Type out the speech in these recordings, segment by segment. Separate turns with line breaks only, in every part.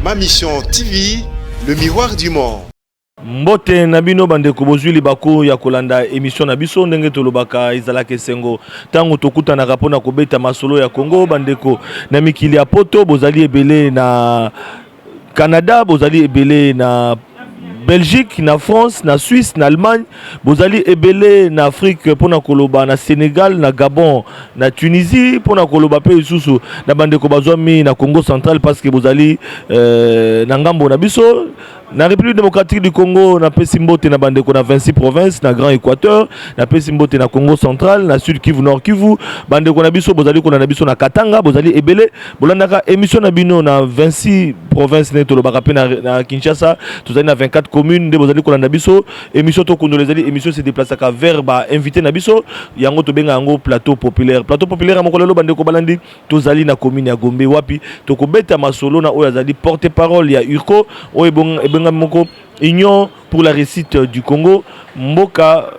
Ma Mission TV, le miroir du monde. mbote
na bino bandeko bozwi libaku ya kolanda emission na biso ndenge tolobaka ezalaka esengo ntango tokutanaka mpo na kobeta masolo ya kongo bandeko na mikili ya poto bozali ebele na Canada bozali ebele na Belgique na France na Suisse na Allemagne bozali ebele na Afrique pona koloba na Senegal na Gabon na Tunisie pona koloba pe lisusu na bandeko bazwami na Congo central parce que bozali euh, na ngambo na biso na république démocratique du congo napesi mbote na bandeko na 26 province na grand équateur napesi mbote na congo central na sud kivu nord kivu bandeko na biso bozali kolanda biso na katanga bozali ebele bolandaka émission na bino na 26 province nde tolobaka mpe na kinshasa tozali na 24 commune nde bozali kolanda biso émission tokundola ezali émission se déplacaka vers ba invité na biso yango tobenga yango plateau populaire plateau populaire ya mokolo eloba ndeko balandi tozali na commune ya gombe wapi tokobeta masolo na oyo azali porte parole ya urco oyo ebengami moko union pour la réussite euh, du Congo mboka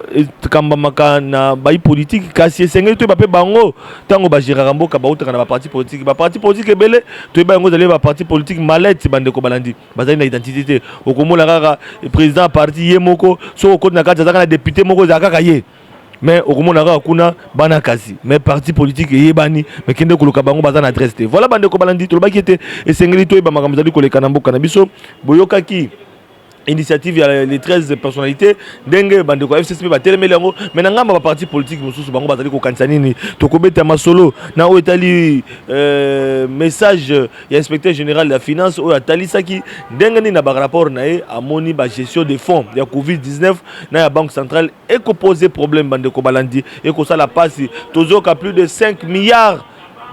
ekambamaka na bayi politiki kasi esengeli toyeba mpe bango ntango bagéraka mboka bautaka na baparti politiki baparti politiki ebele toyeba yango ezali baparti politiki malete bandeko balandi bazali na identité te okomona kaka président ya parti ye moko soki okoti na kati azalaka na député moko ezala kaka ye mais okomona kaka kuna bana kasi mais parti politique eyebani mais kende koluka bango baza na adresse te voilà bandeko balandi tolobaki ete esengeli toyeba makambo ezali koleka na mboka na biso boyokaki initiative ya les 13 personnalités ndenge bandeko ya fcc mpe batelemeli yango mai na ngambo ya baparti politike mosusu bango bazali kokanisa nini tokobeta masolo na oyo etali euh, message ya inspecteur général ya finance oyo atalisaki ndenge nini na barapport na ye amoni bagestion de fonds ya covid-19 na ya banque centrale ekopose problème bandeko balandi ekosala mpasi tozoka plus de 5 milliards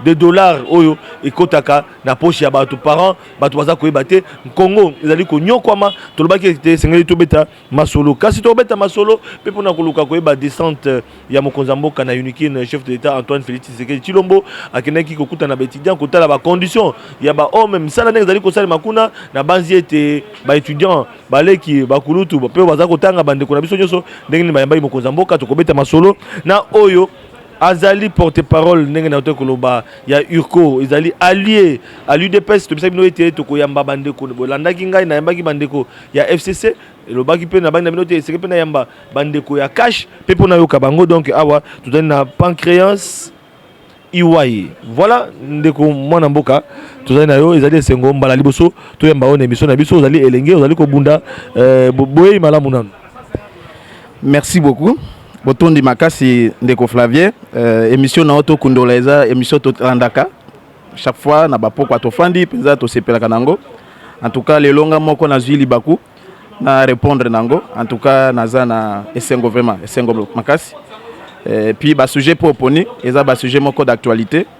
de dollars oyo ekotaka na poche ya bato parents bato baza koyeba te nkongo ezali konyokwama tolobaki ete esengeli tobeta masolo kasi tokobeta masolo mpe mpona koluka koyeba descente ya mokonzi ya mboka na unikin chef de l'état antoine félix tshisekedi tshilombo akendaki kokutana baétudiant kotala bacondition ya bahome misala ndenge ezali kosalema kuna nabanzi ete baétudiant baleki bakulutu mpe baza kotanga bandeko na biso nyonso ndenge nini bayambaki mokonzi ya mboka tokobeta masolo na oyo Azali porte parole ndenge na to koloba ya Urco ezali allié à l'UDPS to bisabi no ete to koyamba bandeko bolandaki ngai na yambaki bandeko ya FCC elobaki mpe na bangi na bino te eseke mpe na yamba bandeko ya cash mpe mpo nayoka bango donc awa tozali na pancréance iwai voilà ndeko mwana mboka tozali na yo ezali esengo mbala liboso toyamba yo na emission na biso ozali elenge ozali kobunda eh, boyeyi malamu nanu
merci beaucoup botondi makasi ndeko flavie euh, émission na yo tokundola eza émission tolandaka chaque fois na bapokwa tofandi mpenza tosepelaka na yango en tout cas lelo nga moko nazwi libaku na répondre na yango en tout cas naza na esengo vraiment esengo makasi euh, puis basujet mpo oponi eza basujet moko d'actualité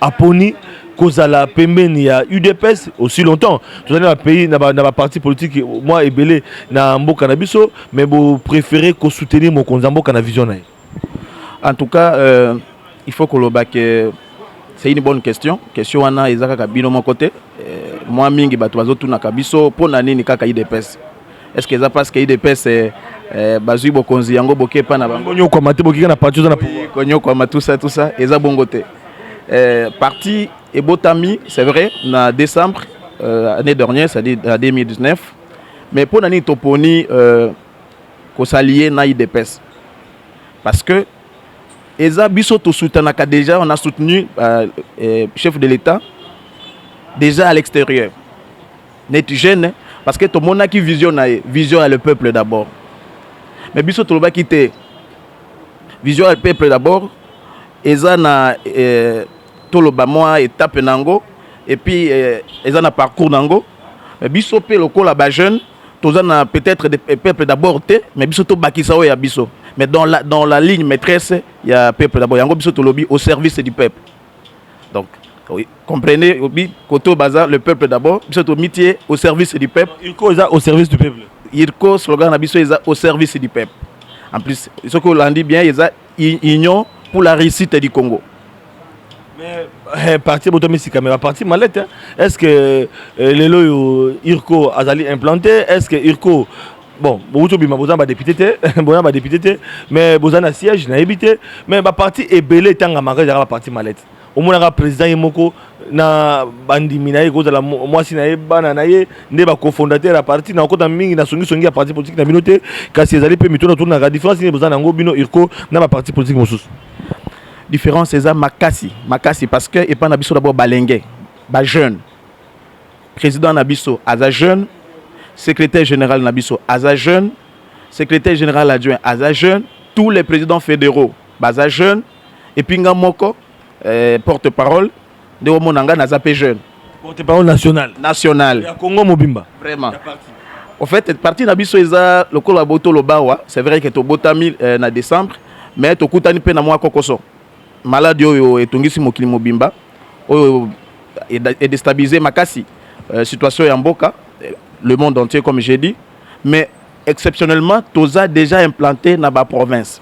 aponi kozala pembeni ya udps aussi longtemps tozali na pays na baparti ba politike mwa ebele na mboka na biso mais bopréféré kosoutenir mokonzi ya mboka na vision na ye en tout
cas euh, il faut koloba ke c'est une bonne question question wana eza kaka bino moko te euh, mwa mingi bato bazotunaka biso mpo na nini kaka udps est ce que eza parce que idps eh, eh, bazui bokonzi yango boke epa na bango konyokwama te bokika na parti
oza na pouvoir konyokwama tout ça tout
ça eza bongo te eh, parti ebotami c'est vrai na décembre euh, année dernière c'est à dire na 2019 mais mpo na nini toponi euh, kosalie na idps parce que eza biso tosutanaka déjà on a soutenu euh, euh, chef de l'état déjà à l'extérieur neti jeune parce que tomonaki vision na ye vision ya le peuple d'abord mais biso tolobaki te vision ya le peuple d'abord eza na eh, toloba mwa etape na yango epuis eh, eza na parcours na yango mais biso mpe lokola bajeune toza na peut-être de eh, peuple d'abord te mais biso tobakisa oyo ya biso mais dans la, dans la ligne maîtresse ya peuple d'abord yango biso tolobi au service du peuple Donc, comprenez, obi, koto baza, le peuple d'abord, biso to mitie au service du peuple. Irko eza au service du
peuple. Irko, slogan na
biso eza au service du peuple. En plus, ce que l'on dit bien, eza union pour la réussite du Congo.
Mais, eh, parti botomisi kamera parti malette hein. est-ce que eh, lelo yo irko azali implanté est-ce que irko bon bowuti obima boza na badepute te boza na badepute te mais boza na siège nayebi te mais baparti ebele etangamaka ezalaka baparti malete omonaka président ye moko na bandimi na ye ekozala mwasi na ye bana na ye nde bacofondateur ya parti na okota mingi na songisongi ya parti politique na bino te kasi ezali mpe mituna otunaka différence nini boza na yango bino irco na baparti politique mosusu différence
eza makasi makasi parce que epai na biso dabord balenge bajeune President na biso aza jeune, Secretaire general na biso aza jeune, Secretaire general adjoint aza jeune, tous les presidents federaux baza jeune, et puis nga moko eh, porte parole nde omona nga naza pe jeune. Porte parole national.
National. Ya Congo mobimba. Vraiment.
Ya parti. Au fait, parti na biso eza lokola boto lobawa, c'est vrai que tobotami eh, na décembre, mais tokutani pe na mwa kokoso. Maladi oyo etungisi mokili mobimba, oyo e destabiliser makasi situation ya mboka, le monde entier comme j'ai dit, mais exceptionnellement toza dejà implante na ba provinces.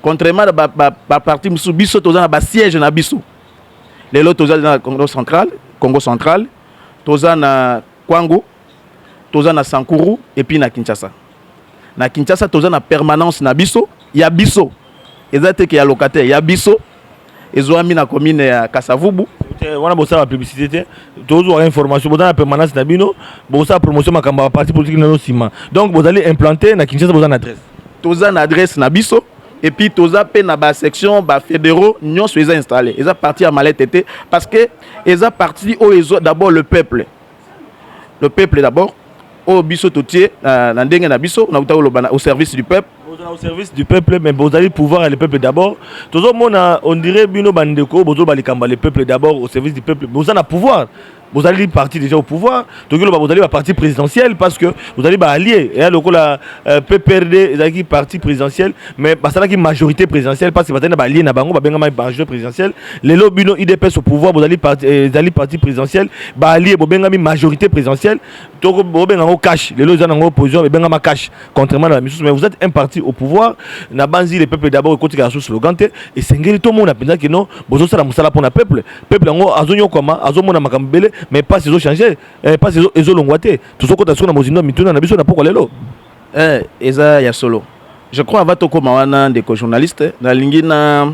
Contrairement na ba parties mosusu, biso toza na ba sièges na biso. Lelo toza na Congo central, Congo central, toza na Kwango, toza na Sankuru et puis na Kinshasa. Na Kinshasa toza na permanence na biso ya biso eza te ke ya locataire ya biso ezuami na commune ya Kasavubu. wana bosala
publicité te tozwa information boza na permanence na bino bosala promotion makambo ya parti politique nano nsima donc bozali implanté na kinshasa boza na adresse toza na adresse
na biso et puis toza mpe na basection bafédéraux nyonso eza installé eza parti ya malete te parce que eza parti oyo ezwa d'abord le peuple le peuple d'abord oyo biso totie na, na ndenge na biso na utaki koloba au service du peuple bozala au service du
peuple mais bozali pouvoir ya le peuple d'abord tozomona on dirait bino bandeko bozoloba likambo ya le peuple d'abord au service du peuple boza na pouvoir bozali parti déjà au pouvoir tokoki loba bozali ba parti présidentiel parce que bozali ba allié eya lokola euh, pprd ezalaki parti présidentiel mais basalaki majorité présidentielle parce que bazali na balie na bango babengamaki majorité présidentielle lelo bino udps au pouvoir bozali parti, eh, ezali parti présidentiel baalie bobengami majorité présidentielle toko bobenga yango cash lelo eza nango opposition ebengama cash contrairement na bamisusu mais vous êtes un parti au pouvoir na banzi le peuple d'abord ekotika na sous slogan te esengeli tomona mpenza kino bozosala mosala mpo na peuple peuple yango azonyokwama azomona makambo ebele mais mpasi ezochange eh, mpasi ezolongwa te tozokota siko na mozindo ya mituna na biso na pokwa lelo Eh eza
ya solo je crois avant tokoma wana ndeko journaliste nalingi na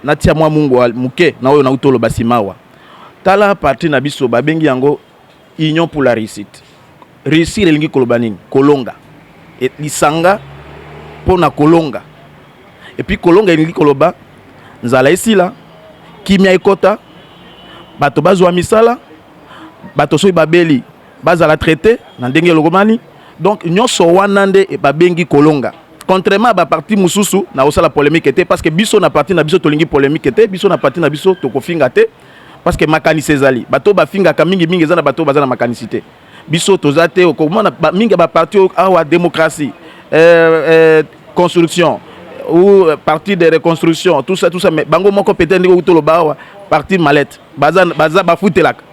natia mwa mungwa muke na oyo nauti oloba simawa tala parti na biso babengi yango union pour la réussite réussir elingi koloba nini kolonga e, lisanga mpo na kolonga epuis kolonga elingi koloba nzala esila kimia ekota bato bazwa misala bato soki babeli Bazala traite na ndenge elokobani donc nyoso wana nde babengi kolonga. Contrairement à ba parti mususu na kosala polemique te parce que biso na parti na biso tolingi polemique te biso na parti na biso tokofinga te parce que makanisi ezali bato bafingaka mingi mingi eza na bato baza na makanisi te biso toza te okomona mingi ya ba parti awa démocratie euh, euh, construction ou euh, parti de reconstruction tout ça tout ça mais bango moko peut-être ndenge okutoloba awa parti mallette baza baza bafutelaka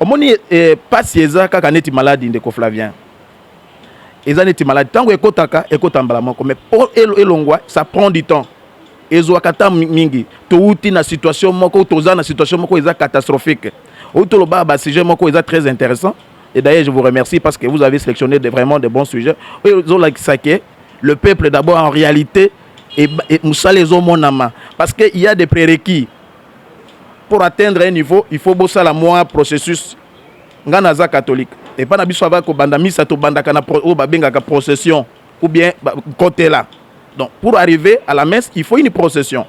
Omoni eh, pasi eza kaka neti maladi ndeko Flavien. Eza neti maladi tango ekotaka ekota mbala moko mais po elongwa ça prend du temps. Ezwaka temps mingi. Towuti na situation moko, toza na situation moko eza catastrophique. Oyo toloba ba sujet moko eza très intéressant. Et d'ailleurs je vous remercie parce que vous avez sélectionné de, vraiment de bons sujets. Oyo ezolakisa ke le peuple d'abord en réalité et, et musala ezomonama parce que il y a des prérequis pour atteindre un niveau il faut bosala mwa processus ngai naza catholique epai na biso ava kobanda misa tobandaka na oyo babengaka procession ou bien kotela donc pour arriver à la messe il faut une procession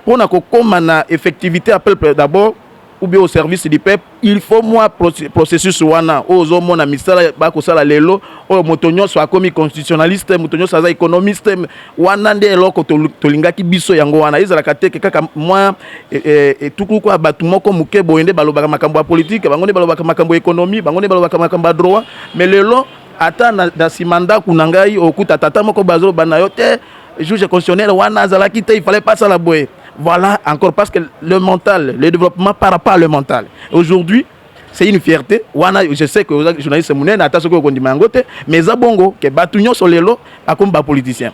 mpo na kokoma na effectivité ya peuple d'abord ou bien au service du peuple il faut mwa processus wana oyo ozomona misala bakosala lelo oyo moto nyonso akomi constitutionnaliste moto nyonso aza économiste wana nde eloko tolingaki biso yango wana ezalaka teke kaka mwa e, e, etuku kwa bato moko moke boye nde balobaka makambo ya politike bango nde balobaka makambo ya économie bango nde balobaka makambo ya droit mais lelo ata na nsima ndako na ngai okuta tata moko bazoloba na yo te juge constitutionnel wana azalaki te il fallait pas asala boye Voilà encore parce que le mental, le développement par rapport à le mental. Aujourd'hui, c'est une fierté. Wana, je sais que les journalistes munene ata soki okondima yango te, mais eza bongo que batu nyonso lelo akomi ba politiciens.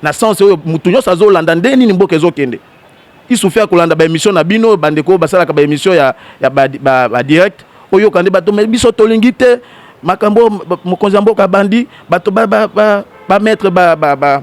Na sens oyo mutu nyonso azolanda nde nini mboka ezokende. Isufi akolanda ba émission na bino bandeko basalaka ba émission ya, ya ba, ba, ba direct oyoka nde bato biso tolingi te makambo mokonzi ya mboka abandi bato ba, ba, ba, ba maître ba, ba, ba,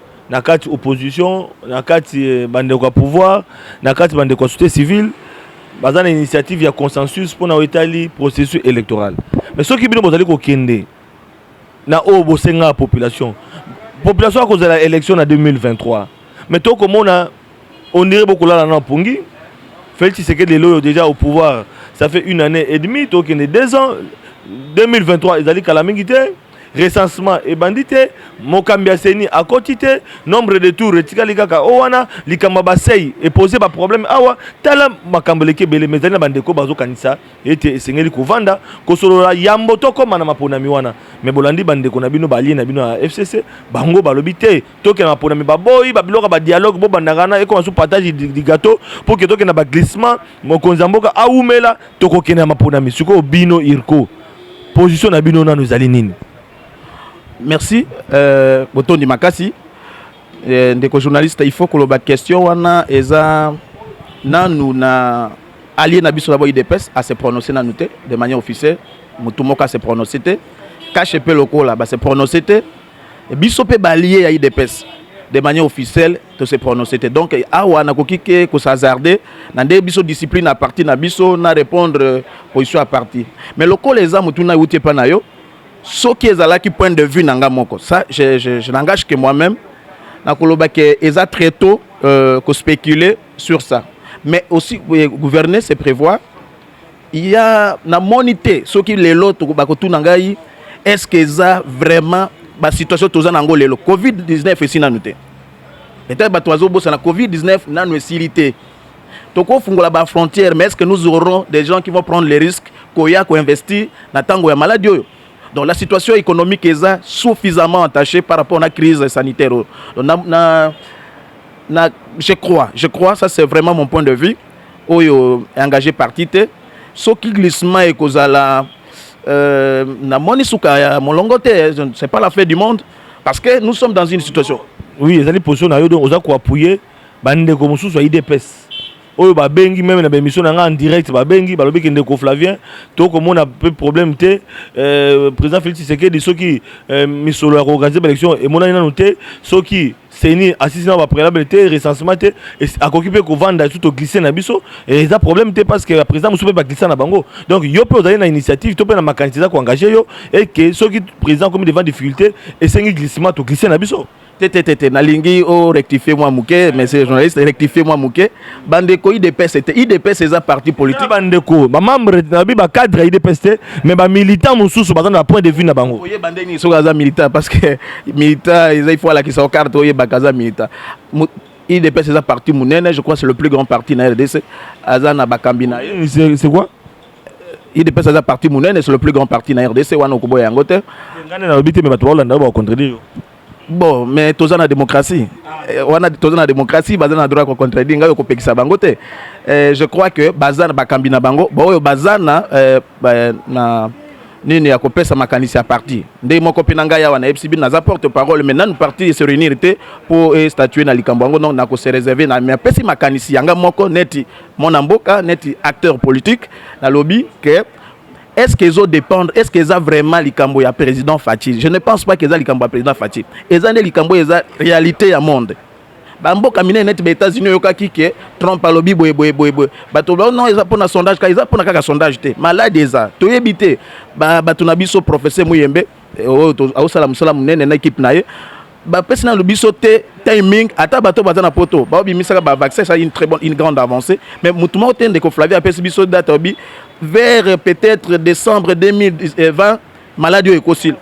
na kati opposition na kati eh, bandeko ya pouvoir na kati bandeko ya société civile baza na initiative ya consensus mpona oyo etali processus électoral mais soki bino bozali kokende na oyo bosengaka population population akozala élection na 2023 mais tokomona ondire bokolala na pongi Félix Tshisekedi lelo oyo déjà au pouvoir ça fait une année et demie tokende deux ans 2023 ezali kala mingi te recensement ebandi te mokambi ya seni akoti te nombre de tour etikali kaka o wana likambo ya basei epose baproblème awa tala makambo eleki ebele ma ezali na bandeko bazokanisa ete esengeli kovanda kosolola yambo tokóma na maponami wana me bolandi bandeko na bino balie na bino ya fcc bango balobi te tokenda maponami baboyi babiloko ya badialogue bobandaka na ekoma su partage du gâteau pour ke tokenda baglissement mokonzi ya mboka awumela tokokenda ya maponami sikoyo bino irko position na bino nano ezali nini
merci euh, botondi makasi euh, ndeko journaliste il faut koloba question wana eza nanu na allié na biso nabo idps à se prononcer nanu te de manière officielle motu moko à se prononcer te kashe mpe lokola ba se prononcer te Biso pe ba allies ya udps de manière officielle to se prononcer te donc awa nakoki ke ko se hasarder na nde biso discipline ya parti na biso na repondre position ya parti mais lokola eza motuna euti epa na yo soki ezalaki point de vue na nga moko ça je, je, je n'engage que moi-même nakoloba ke eza très tôt euh, ko spéculer sur ça mais aussi euh, gouverner c'est prévoir ya namoni te soki lelo bakotuna ngai eske eza vraiment basituation toza na yango lelo covid 19 esi nanu te peut-être bato bazobosana covid 19 nanu esili te tokofungola bafrontière mais est ce que nous aurons des gens qui vont prendre les risques koya koinvestir na ntango ya maladi oyo donc la situation économique eza suffisamment entachée par rapport na crise sanitaire oyo na, na, na, je crois je crois ça c'est vraiment mon point de vue oyo engage parti te soki glissement ekozala euh, namoni suka ya molongo te c'est pas la fin du monde parce que nous sommes dans une situation oui ezali position
na yo donc oza koappuye bandeko mosusu ya idps oyo babengi meme na baémission na ngai en direct babengi balobi ke ndeko flavien tokomona mpe problème te euh, président félix tshisekedi soki euh, misolo ya koorganize baélection emonani nanu te soki ceni asisi na bapréalable te recensement te akoki mpe kovanda esu toglise na biso eza problème te parce que baprésident mosusu mpe baglisa na bango donc yo mpe ozali na initiative to mpe na makanisi eza koengage yo eke soki président akomi devant difficulté esengi glissement toglise na biso te te te te nalingi
o rectifier mwa moke monsieur journaliste rectifier mwa moke bandeko idps te idps eza parti politique bandeko bamembre
nabi bacadre ya idps te mais bamilitant mosusu baza na bapoint de vue na bango oyeba nde nini soki aza
militant parce que militant eza ifo alakisa okarte oyebaka aza militant idps eza parti monene je crois c'est le plus grand parti na rdc aza na bakambi na ye c'est quoi
idps
aza parti monene c'est le plus grand parti na rdc wana okoboya yango te ngai nalobi te mais
bato baolanda bakontredire yo Bon
mais toza na démocratie eh, wana toza na démocratie baza na droit ya kocontredire ngai okopekisa bango te eh, je crois que baza na bakambi na bango baoyo baza na, eh, na nini ya kopesa makanisi ya parti ndenge moko mpe na ngai awa nayebisi bino naza porte parole mais nanu parti se réunir te mpo estatue na likambo yango donc nakose réserve na mais apesi makanisi yanga moko neti mwana mboka neti acteur politique nalobi ke Est-ce que ezo dépendre, est-ce que eza vraiment likambo ya président Fatshi? Je ne pense pas que eza likambo ya président Fatshi. Eza nde likambo eza réalité ya monde. Ba mboka minene neti ba États-Unis oyokaki ke Trump alobi boye boye boye boye. Bato ba non eza pona sondage kaka eza pona kaka sondage te. Malade eza. Toyebi te ba bato na biso professeur Muyembe eh, oyo oh, aosala mosala monene na équipe na ye bapesi nanu biso te timing ata bato baza na poto baobimisaka bavaccin eza une très bonne une grande avancée mais motu moko te ndeko flavie apesi biso date obi vers peut-être décembre 2020 maladi oyo ekosila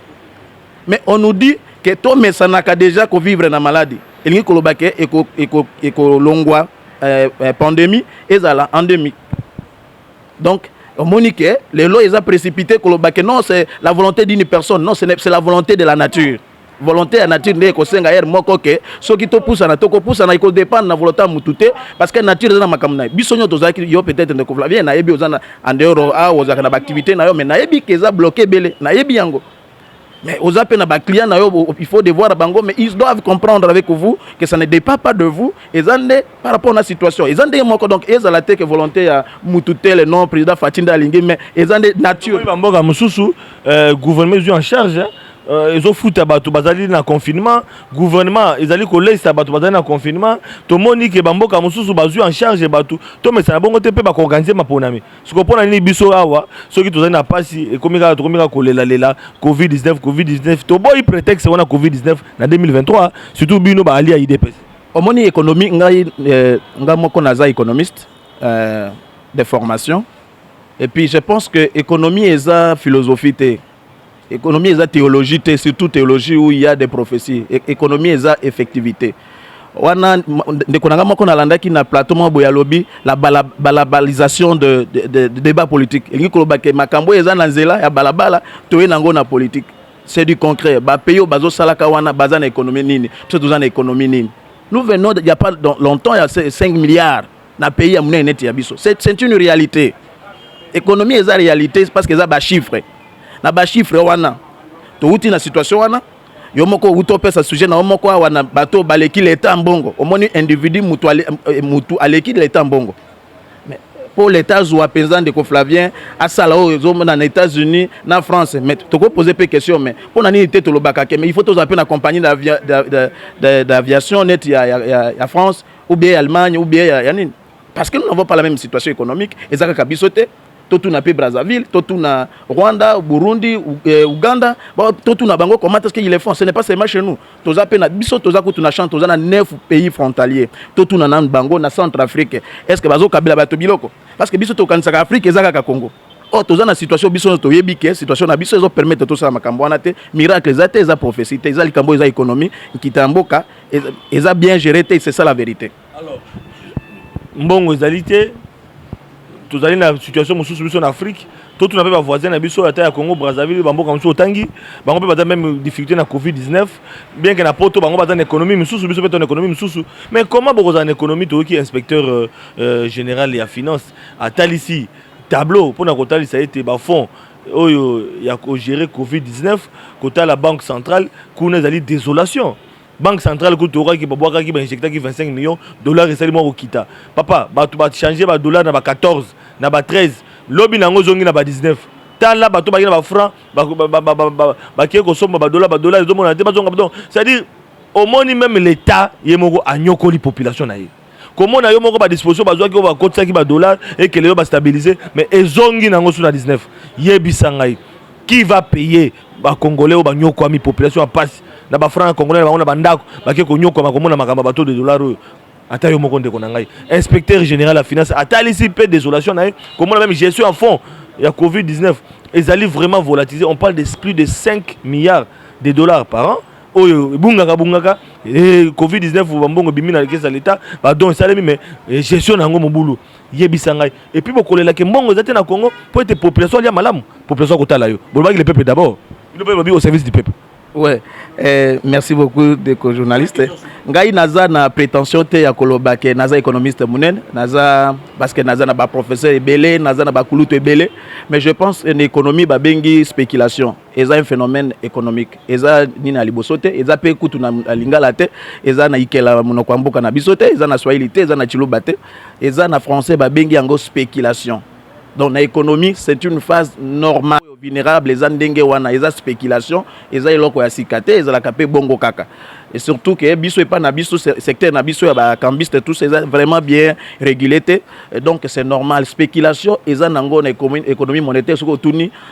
mais on nous dit ke tomesanaka déjà kovivre na maladi elingi koloba ke ekolongwa eh, eh, pandémie ezala endémique donc omoni ke lelo eza précipité koloba ke non c'est la volonté d'une personne non c'est la volonté de la nature volonté ya nature nde ekosenga heure moko ke soki topusana tokopusana ekodépendre na volonté ya motu te parce que nature eza na makambo na ye biso nyonso tozalaki yo peut-être ndeko flavien nayebi oza na en dehors awa ah, ozalaka na baactivité na yo mais nayebi ke eza bloqué ebele nayebi yango mais oza mpe na baclient na yo il faut devoir bango mais ils doivent comprendre avec vous que ça ne dépend pas de vous eza nde par rapport na situation eza ndenge moko donc ezala te ke volonté ya mutu tele non président fati nde alingi mais eza nde nature bamboka mosusu euh, gouvernement
ezwi en charge Euh, ezofuta bato bazali na confinement gouvernement ezali koleisa bato bazali na confinement tomoni ke bamboka mosusu bazwi en charge bato tomesana bongo te mpe bakoorganize maponami siko mpo na nini biso awa soki tozali na mpasi ekomi kaka tokomi kaka kolelalela covid-19 covid-19 toboyi prétexte wana covid-19 na 2023 surtout bino baali ya idps omoni économie
ngai eh, ngai moko naza économiste euh, de formation et puis je pense que économie eza philosophie te Economie eza theologie te, surtout theologie où il y a des prophéties. E-, economie eza effectivité. wana ndeko na ngai moko nalandaki na plateau moko boye alobi la balabalisation de, de, de, de débat politique elingi koloba ke makambo oyo eza na nzela ya balabala toye na yango na politique c'est du concret bapays oyo bazosalaka wana baza na économie nini biso toza na économie nini nous venons il y a pas longtemps ya 5 milliards na pays ya munene neti ya biso c'est une réalité économie eza réalité parce que eza ba chiffres na ba chiffres wana towuti na situation wana yo moko owuti opesa sujet na yo moko awa na bato baleki leta mbongo omoni individu mutu euh, aleki leta mbongo mpo leta azwa mpenza ndeko flavien asala oyo ezomona na états-unis na france mais tokopose mpe question mais mpo na nini te tolobaka ke mais il faut tozala mpe na compagnie d'aviation neti ya, ya, ya, ya france ou bien ya Allemagne ou bien ya, ya nini parce que nous n'avons pas la même situation économique eza kaka biso te totuna mpe Brazzaville totuna Rwanda Burundi eh, Uganda totuna bango comment est-ce qu'ils le font ce n'est pas seulement chez nous toza mpe na biso toza kutu na champ toza na neuf pays frontaliers totuna nanu bango na centre Afrique est-ce que bazokabela bato biloko parce que biso tokanisaka Afrique eza kaka Congo or oh, toza na situation biso nyonso toyebi ke situation na biso ezopermettre tosala makambo wana te miracle eza te eza prophétie te eza likambo eza économie nkita ya mboka eza bien géré te c'est ça la vérité alors
mbongo ezali te tozali na situation mosusu biso na afrique totuna mpe bavoisin na biso ata ya congo brazzaville bamboka mosusu otangi bango mpe baza meme difficulté na covid 19 bien ke na poto bango baza na économie mosusu biso mpe to na économie mosusu mais comment bokozala na économie toyoki inspecteur euh, euh, général ya finance atalisi tableau mpo na kotalisa ete bafond oyo ya kogere covid-19 kotala banque centrale kuna ezali désolation banque centrale kutu tokaki babwakaki bainjectaki 25 millions dollars esali mwa kokita papa bato bachange badollar na ba 14 na ba 13 lobi na yango ezongi na ba 19 tala bato baki na bafranc bakei kosomba badollar badollar ezomonana te bazonga donc c'est-à-dire omoni meme l'état ye moko anyokoli population na ye komona yo moko badisposition bazwaki oyo bakotisaki badollar ekele yo bastabilise mais ezongi nango su na 19 yebisa ngai qui va payer bakongolais oyo banyokwami population ya mpasi na bafranga congolais na bango na bandako bake konyokwama komona makambo ya bato de dollar oyo ata yo moko ndeko na ngai inspecteur général ya finance atalisi mpe désolation na ye komona meme gestion ya fond ya covid 19 ezali vraiment volatilisé on parle de plus de 5 milliards de dollars par an oyo ebungaka bungaka eh, covid 19 bambongo ebimi na kesa leta badon esalemi me eh, gestion na yango mobulu yebisa ngai epuis bokolelake mbongo eza te na congo mpo ete population alia malamu population akotala yo bolobaki le peuple d'abord bino mpe bobi au service du peuple Ouais. Eh,
merci beaucoup deko journaliste ngai naza na prétention te ya koloba ke naza économiste monene naza parce que naza na baprofesseur ebele naza na bakulutu ebele mais je pense en économie babengi spéculation eza un phenomène économique eza nini ya liboso te eza mpe kutu na lingala te eza na ikela monoko ya mboka na biso te eza na swahili te eza na chiluba te eza na français babengi yango spéculation donc na économie c'est une phase normale oyo vulnérable eza ndenge wana eza spéculation eza eloko ya sika te ezalaka mpe bongo kaka et surtout que biso epa na biso secteur na biso ya ba cambiste tous eza vraiment bien régulé te donc c'est normal spéculation eza nango na économie monétaire soki otuni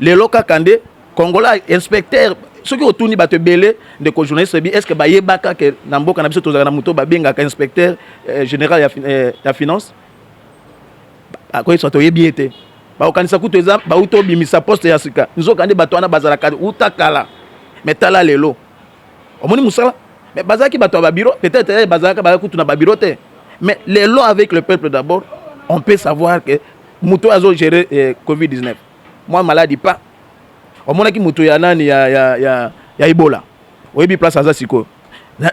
lelo kaka nde congolais inspecteur soki otuni bato ebele ndeko journaliste bi est-ce que bayebaka ke na mboka na biso tozalaka na moto babengaka inspecteur eh, général ya, eh, ya finance akoyebisa toyebi ye te bakokanisa kutu eza bauti obimisa poste ya sika nzoka nde bato wana bazalaka uta kala me tala lelo omoni mosala me bazalaki bato ya babiro peut-être eh, bazalaka baya kutu na babiro te mais lelo avec le peuple d'abord on peut savoir que moto oyo azo gérer eh, covid 19 mwa maladi pa omonaki moto ya nani ya, ya, ya, ya ebola oyebi place aza sikoyo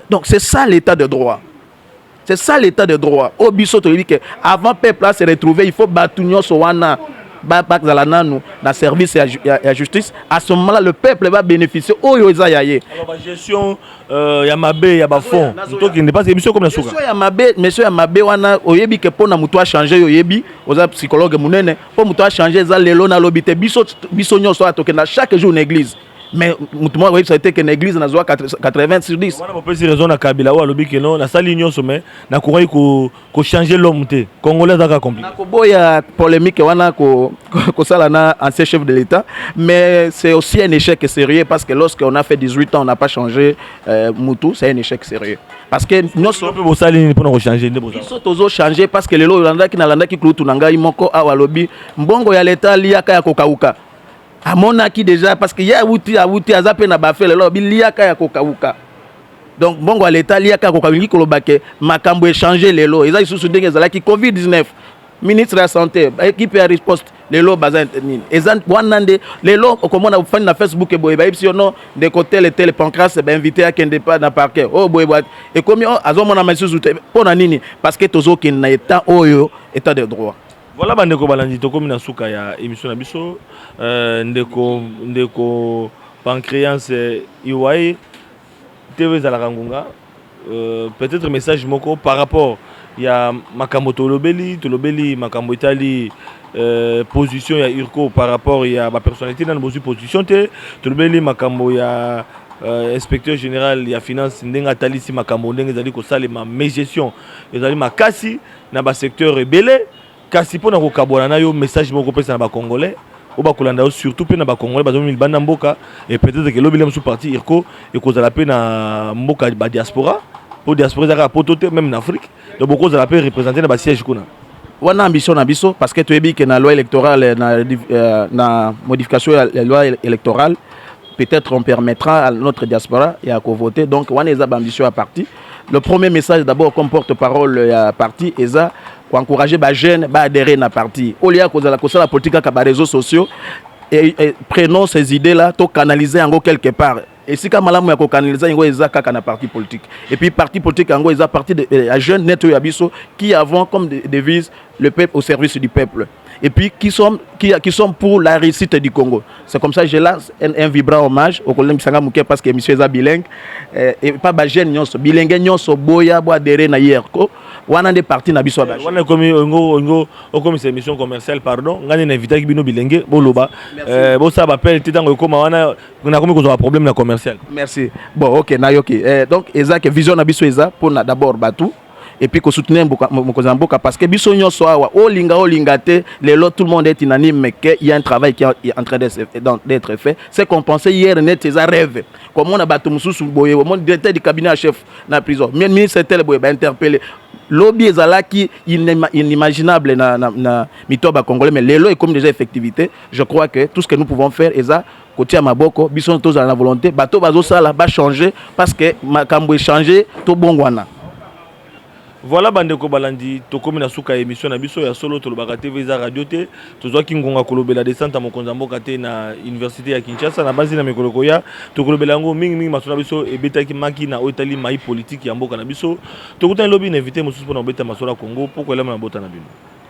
donc c'est ça l'état de droit c'est ça l'état de droit oyo biso toyebi ke avant peuple a se retrouver il faut bato nyonso wana bazala nanu na service ya, ya, ya justice à ce moment là le peuple va bénéficier oyo eza ya ye
Euh, ya mabe ya bafond tokende mpasi emission ekomi na suka ya mabe mesio ya mabe
wana oyebi ke mpo na moto achange yo oyebi oza psychologue monene mpo moto achange eza lelo na lobi te biso, biso nyonso oyo tokenda chaque jour na église mais moto moko akoyebisa te ke na église nazwa 80 sur 10 wana bopesi raison na kabila
oyo alobi ke no nasali nyonso mais nakokaki ko changer l'homme te congolais aza kaka compliqué nakoboya polemique wana ko kosala na ancien chef de l'état mais c'est aussi un échec sérieux parce que lorsque on a fait 18 ans on n'a pas changé euh, mutu c'est un échec sérieux parce que nyonso mpe bosali nini mpona kochange nde biso tozo change parce
que lelo olandaki nalandaki kulutu na ngai moko awa alobi mbongo ya leta aliaka ya kokauka amonaki déjà parce que ye awuti awuti aza mpe na bafe lelo alobi liaka ya kokauka donc mbongo ya leta aliaka koka olingi koloba ke makambo echange lelo eza lisusu ndenge ezalaki covid 19 ministre ya santé baekipe ya riposte lelo baza nini eza wana nde lelo okomona ofandi na facebook eboye bayebisi yo no ndeko tele tele pancras bainvite akende pa na parquet oyo oh, boye boye ekomi oh, azomonama lisusu te mpo na nini parce que tozokende na etat oyo etat de droit voilà bandeko balandi
tokomi na suka ya émission na biso euh, ndeko ndeko pancréance iwaye TV ezalaka ngunga euh, peut-être message moko par rapport ya makambo tolobeli tolobeli makambo etali euh, position ya urco par rapport ya bapersonnalité nano bozwi position te tolobeli makambo ya euh, inspecteur général ya finance ndenge atalisi makambo ndenge ezali kosalema mégestion ezali makasi na basecteur ebele Kasi mpo na kokabwana na yo message moko kopesa na ba congolais oyo bakolanda yo surtout mpe na ba congolais bazomi libanda mboka et peut-être que lobi le mosusu parti irco ekozala mpe na mboka ba diaspora mpo diaspora ezaka poto te même na afrique donc bokozala mpe représente na ba siège kuna wana ambition na
biso parce que toyebi ke na loi électorale na, euh, na modification ya loi électorale peut-être on permettra à notre diaspora ya kovote donc wana eza baambition ya parti Le premier message d'abord comme porte-parole ya parti eza ko encourager ba jeunes ba adhérer na parti. Au lieu ya kozala kosala politique kaka ba réseaux sociaux et, et prenons ces idées là to canaliser yango quelque part esika malamu ya kokanaliza yango eza kaka na parti politique et puis parti politique yango eza parti de, ya jeune net oyo ya biso qui avons comme devise le peuple au service du peuple et puis qui sont, qui, qui sont pour la réussite du Congo. C'est comme ça que je lance un, un vibrant hommage au collègue Sanga Mouké parce que monsieur est bilingue euh, et pas ba jeune nyonso bilingue nyonso boya bo adhérer na yerko wana nde parti na biso ba eh, wana komi ngo ngo
okomi c'est émission commerciale pardon ngani na invité bino bilingue boloba euh, bo ça appel ti tango ekoma wana na komi kozwa problème na commercial merci bon OK
na yoki euh, donc eza que vision na biso eza pona d'abord batou et puis ko soutenir mokonzi na mboka parce que biso nyonso awa olinga olinga te lelo tout le monde est unanime mais que il y a un travail qui est en train d'être fait c'est compensé hier net eza rêve komona bato mosusu boye omoni directeur du cabinet ya chef na prison mais ministre tel boye ba interpellé lobi ezalaki inimaginable na, na, na mito ya bacongolais mais lelo ekomi déjà effectivité je crois que tout ce que nous pouvons faire eza kotia maboko biso tozala na volonté bato bazosala ba changer parce que makambo echange tobongwana Voilà
bandeko balandi tokomi na suka ya emission na biso ya solo tolobaka TV eza radio te tozwaki ngonga kolobela descente ya mokonzi ya mboka te na université ya Kinshasa na banzi na mikolo koya tokolobela yango mingi mingi maso na biso ebetaki maki na oyo etali mai politique ya mboka na biso tokutani lobi na invité mosusu mpona kobeta masolo ya Congo mpo koyelama na bota na bino